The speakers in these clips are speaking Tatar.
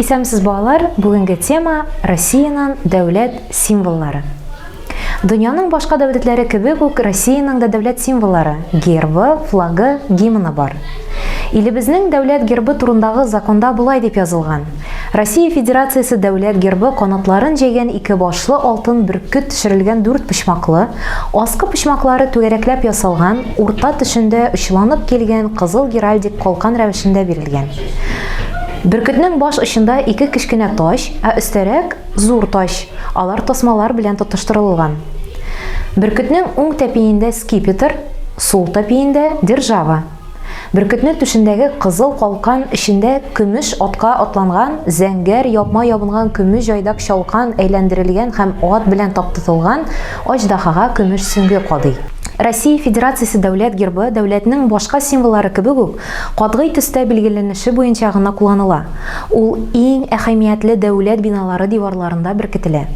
Исәнмесез балалар, бүгенге тема Россиянең дәүләт символлары. Дөньяның башка дәүләтләре кебек үк Россиянең дә дәүләт символлары, гербы, флагы, гимны бар. Илебезнең дәүләт гербы турындагы законда болай дип язылган. Россия Федерациясе дәүләт гербы канатларын җәйгән ике башлы алтын бөркет төшерелгән дүрт почмаклы, аскы почмаклары түгәрәкләп ясалган, урта төшендә очланып килгән кызыл геральдик калкан рәвешендә бирелгән. Бөркетнең баш очында ике кечкенә тач, ә өстәрәк зур тач. Алар тасмалар белән тотыштырылган. Бөркетнең уң тәпиендә скипетр, сул тәпиендә держава. Бөркетне түшендәге кызыл калкан эчендә көмеш атка атланган, зәңгәр япма ябынган көмеш җайдак чалкан әйләндерелгән һәм ат белән таптытылган аҗдаһага көмеш сөңге кадый. Россия Федерациясе Дәүләт гербы дәүләтнең башка символлары кебек үк Катгый төстә билгеләнеше буенча гына кулланыла. Ул иң әһәмиятле дәүләт биналары диварларында беркетелә.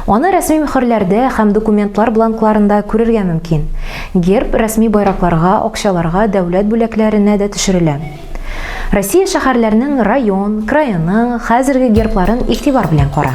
Аны рәсми мөхерләрдә һәм документлар бланкларында күрергә мөмкин. Герб рәсми байракларга, акчаларга, дәүләт бүләкләренә дә төшерелә. Россия шәһәрләренең район, крайының хәзерге гербларын игътибар белән кара.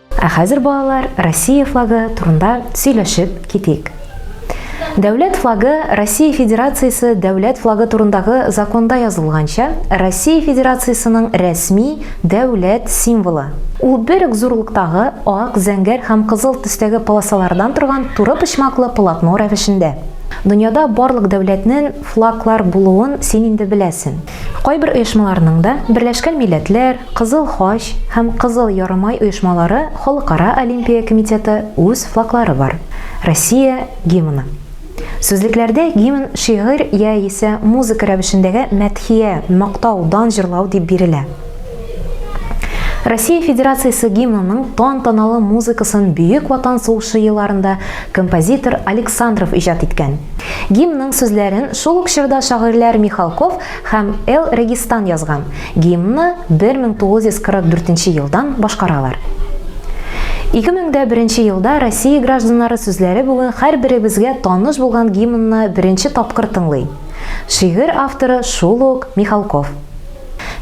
Ә хәзер, балалар, Россия флагы турында сөйләшеп китик. Дәүләт флагы Россия Федерациясе дәүләт флагы турындагы законда язылганча, Россия Федерациясенең рәсми дәүләт символы. Ул бер үк зурлыктагы ак, зәңгәр һәм кызыл төстәге полосалардан торган туры почмаклы полотно рәвешендә. Дөньяда барлык дәүләтнен флаглар булуын син инде беләсен. Кайбер оешмаларның да, Берләшкән Милләтләр, Кызыл Хач һәм Кызыл Ярымай оешмалары Халыкара Олимпия комитеты үз флаглары бар, Россия гимны. Сүзлекләрдә гимн шигырь яисә музыка рәвешендәге мәдхия, мактау, дан җырлау дип бирелә. Россия Федерациясе гимнының тантаналы музыкасын Бөек Ватан сугышы елларында композитор Александров иҗат иткән. Гимнның сүзләрен шул ук чорда шагыйрьләр Михалков һәм Эл Регистан язган. Гимнны 1944 елдан башкаралар. 2001 елда Россия гражданнары сүзләре бүген һәрберебезгә таныш булган гимнны беренче тапкыр тыңлый. Шигырь авторы шул ук Михалков.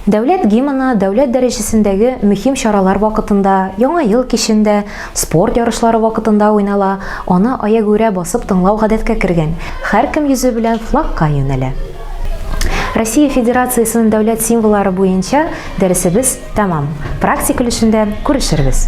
Дәүләт гимны дәүләт дәрәҗәсендәге мөһим чаралар вакытында, Яңа ел кичендә, спорт ярышлары вакытында уйнала, аны аягүрә басып тыңлау гадәткә кергән, һәркем йөзе белән флагка юнәлә. Россия Федерациясенең дәүләт символлары буенча дәресебез тәмам. Практик өлешендә күрешербез.